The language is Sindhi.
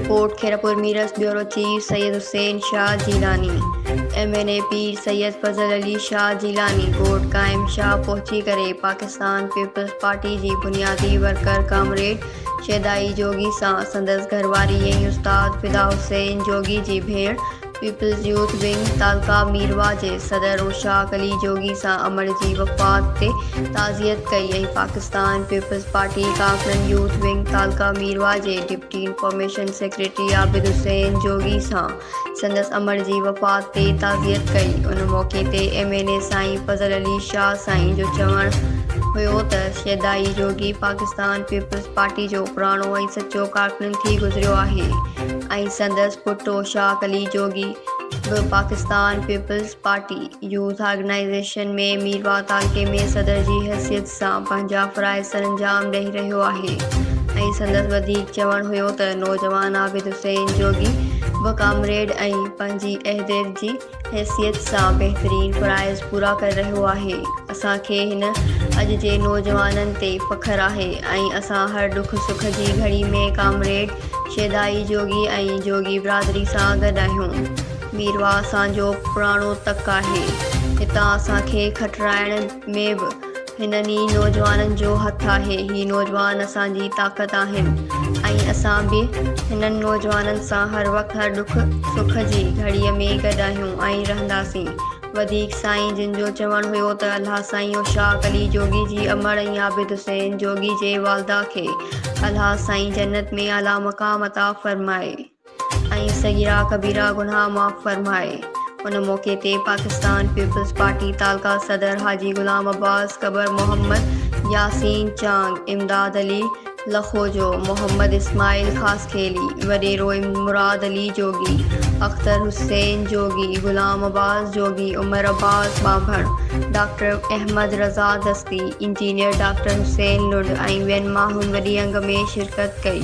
Report, Khairpur Mirs, bureau chief, Syed Hussain Shah Jilani, M N A Pir Syed Fazal Ali Shah Jilani ڳوٺ قائم شاهه پهچي ڪري پاڪستان پيپلز پارٽي جي بنيادي ورڪر ڪامريڊ شيدائي جوڳي سان سندس گهر واري ۽ استاد فدا حسين جوڳي جي ڀيڻ پيپلز يوٿ ونگ تعلقه ميرواهه جي صدر رشاق علي جوڳي سان امڙ جي وفات تي تعزيت ڪئي ۽ پاڪستان پيپلز پارٽي ڪاڪڙن يوٿ ونگ تعلقه ميرواهه جي deputy information secretary Abid Hussain Jogi سان سندس امڙ جي وفات تي تعزيت ڪئي ان موقعي تي ايم اين اي سائين فضل علي شاهه سائين جو چوڻ هيو ته شيدائي جوڳي پاڪستان پيپلز پارٽي جو پراڻو ۽ سچو ڪارڪن ٿي گذريو آهي ۽ سندس پٽ اوشاق علي جوڳي به Pakistan peoples party youth organisation ۾ Mirwah تعلقي ۾ صدر جي حيثيت سان پنهنجا فرائض سرانجام ڏئي رهيو آهي ۽ سندس وڌيڪ چوڻ هيو ته نوجوان عابد حسين جوڳي به ڪامريڊ ۽ پنهنجي عهديدجي حيثيت سان بهترين فرائض پورا ڪري رهيو آهي اسان کي هن اڄ جي نوجوانن تي فخر آهي ۽ اسان هر ڏک سک جي گهڙي ۾ ڪامريڊ شيدائي جوڳي ۽ جوڳي برادري سان گڏ آهيون ميرواهه اسان جو پراڻو تڪ آهي هتان اسان کي کٽرائڻ ۾ به هنن ئي نوجوانن جو هٿ آهي. هي نوجوان اسان جي طاقت آهن ۽ اسان به هنن نوجوانن سان هر وقت هر ڏک سک جي گهڙيء ۾ گڏ آهيون ۽ رهنداسين. وڌيڪ سائين جن جو چوڻ هيو ته الهه سائين اشاق علي جوڳي جي امڙ ۽ عابد حسين جوڳي جي والده کي الهه سائين جنت ۾ اعليٰ مقام عطا فرمائي. ۽ صغيره ڪبيره گناهه معاف فرمائي. ان موقعي تي پاڪستان پيپلز پارٽي تعلقه صدر حاجي غلام عباس گبر محمد ياسين چانگ، امداد علي لکوجو، محمد اسماعيل خاصخيلي، وڏيرو مراد علي جوڳي، اختر حسين جوڳي، غلام عباس جوڳي، عمر عباس ٻانڀڻ، doctor Ahmed Raza Dasti, engineer doctor Hussain Lund ۽ ٻين ماڻهن وڏي انگ ۾ شرڪت ڪئي.